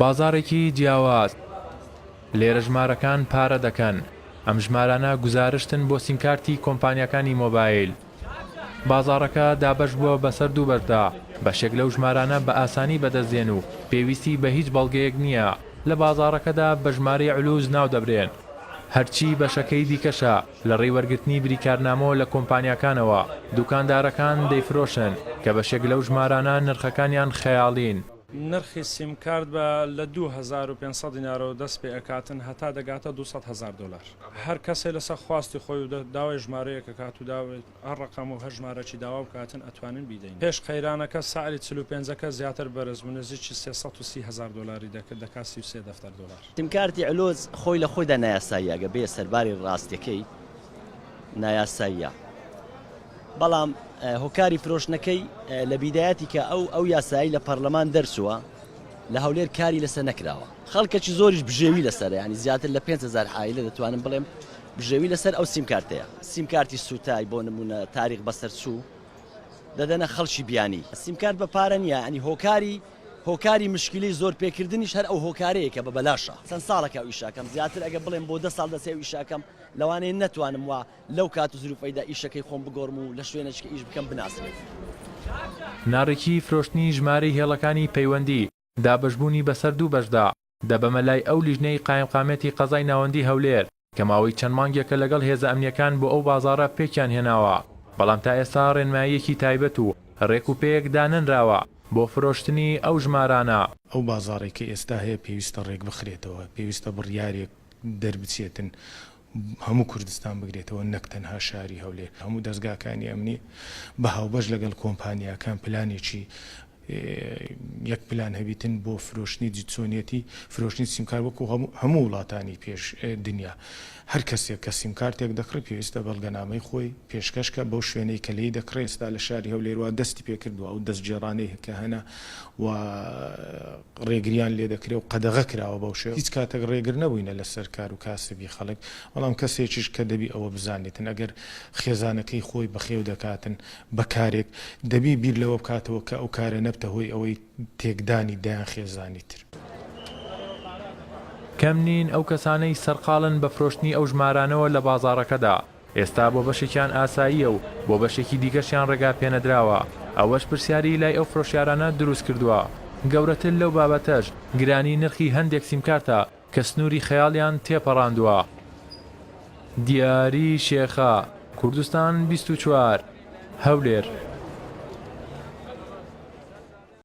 بازاڕێکی جیاواز لێرە ژمارەکان پارە دەکەن ئەم ژمارانە گوزارشتن بۆ سیمکارتی کۆمپانیاکانی مۆبایل بازاڕەکە دابەش بووە بەسەر دوو بەشدا بەشێک لەو ژمارانە بە ئاسانی بەدەستدێن و پێویستی بە هیچ بەڵگەیەک نییە لە بازاڕەکەدا بە ژمارەی علوز ناو دەبرێن هەرچی بەشەکەی دیکەشە لە ڕێی وەرگرتنی بریکارنامەوە لە کۆمپانیاکانەوە، دوکاندارەکان دەیفرۆشن، کە بەشێک لەو ژمارانە نرخەکانیان خەیاڵین. نرخی سیمکارت بە لە دوو هەزار و پێنج سەد دینارەوە دەست پێ ئەکاتن هەتا دەگاتە دوو سەد هەزار دۆلار. هەر کەسێ لەسەر خواستی خۆی و داوای ژمارەیەک ئەکات و داوای. هەر ڕەقەم و هەر ژمارەکی داوا بکاتن ئەتوانین بیدەین. پێش قەیرانەکە سعری چل و پێنجەکە زیاتر بەرز بوو نزیکی سێ سەد و سی هەزار دۆلاری دەکرد دەکات سی و سێ دەفتەر دۆلار. سیمکارتی ئەلۆز خۆی لە خۆیدا نایاساییە ئەگەر بێیە سەرباری ڕاستیەکەی نایاساییە بەڵام هۆکاری فرۆشتنەکەی لە بیدایەتی کە ئەو ئەو یاسایی لە پەرلەمان دەرچووە لە هەولێر کاری لەسەر نەکراوە خەڵکەکی زۆریش بژێوی لەسەرە یانی زیاتر لە پێنج هەزار عایلە دەتوانم بڵێم بژێوی لەسەر ئەو سیمکارتەیە. سیمکارتی سوتای بۆ نمونە تاریق بەسەرچوو دەدەنە خەڵکی بیانی. سیمکارت بە پارە نیە یانی هۆکاری هۆکاری مشکیلەی زۆر پێ کردنیش هەر ئەو هۆکارەیە کە بە بەلاشە. چەند ساڵەکە ئەو ئیشەکەم زیاتر ئەگەر بڵێم بۆ دە ساڵ دەچێ ئەو ئیشەکەم لەوانەیە نەتوانم وا لەو کات و زروفەیدا ئیشەکەی خۆم بگۆرم و لە شوێنێکیکە ئیش بکەم بناسرێت. ناڕیکی فرۆشتنی ژمارەی هێڵەکانی پەیوەندی. دابەشبوونی بەسەر دوو بەشدا دەبەمە لای ئەو لیژنەی قایمقامیەتی قەزای ناوەندی هەولێر کە ماوەی چەند مانگێکە لەگەڵ هێزە ئەمنیەکان بۆ ئەو بازاڕە پێکیان هێناوە بەڵام تا ئێستا ڕێنماییەکی تایبەت و ڕێک و پێیەک دانەنراوە بۆ فرۆشتنی ئەو ژمارانە. ئەو بازاڕەی کە ئێستا هەیە پێویستە ڕێکبخرێتەوە، پێویستە بڕیارێک دەربچێتن هەموو کوردستان بگرێتەوە نەک تەنها شاری هەولێر، هەموو دەزگاکانی ئەمنی بە هاوبەش لەگەڵ کۆمپانیاکان پلانێکی یەک پلان هەبیتن بۆ فرۆشتنی جیتسۆنیەتی فرۆشتنی سیمکار وەکو هەموو وڵاتانی پێش دنیا هەر کەسێک کە سیمکارتێک دەکڕی پێویستە بەڵگەنامەی خۆی پێشکەشکە بەو شوێنەی کە لێی دەکڕێ ئێستا لە شاری هەولێر وا دەستی پێکردوە ئەو دەستگێڕانەی کە هەنە و ڕێگریان لێدەکرێ و قەدەغە کراوە بەو شێوە هیچ کاتەک ڕێگر نەبووینە لەسەر کار و کاسبی خەڵک بەڵام کەسێکیش کە دەبی ئەوە بزانێتن ئەگەر خێزانەکەی خۆی بەخێو دەکاتن بە کارێک دەبی بیر لەوە بکاتەوە کە ئەو کارە نەبتە هۆی ئەوەی تێکدانی دەیان خێزانی تر. کەم نین ئەو کەسانەی سەرقاڵن بە فرۆشتنی ئەو ژمارانەوە لە بازاڕەکەدا. ئێستا بۆ بەشێکیان ئاساییە و بۆ بەشێکی دیکەشیان ڕێگا پێنەدراوە، ئەوەش پرسیاری لای ئەو فرۆشیارانە دروست کردووە. گەورەتر لەو بابەتەش، گرانی نرخی هەندێک سیمکارتە کە سنووری خەیاڵیان تێپەڕاندووە. دیاری شێخە، کوردستان بیست و چوار، هەولێر.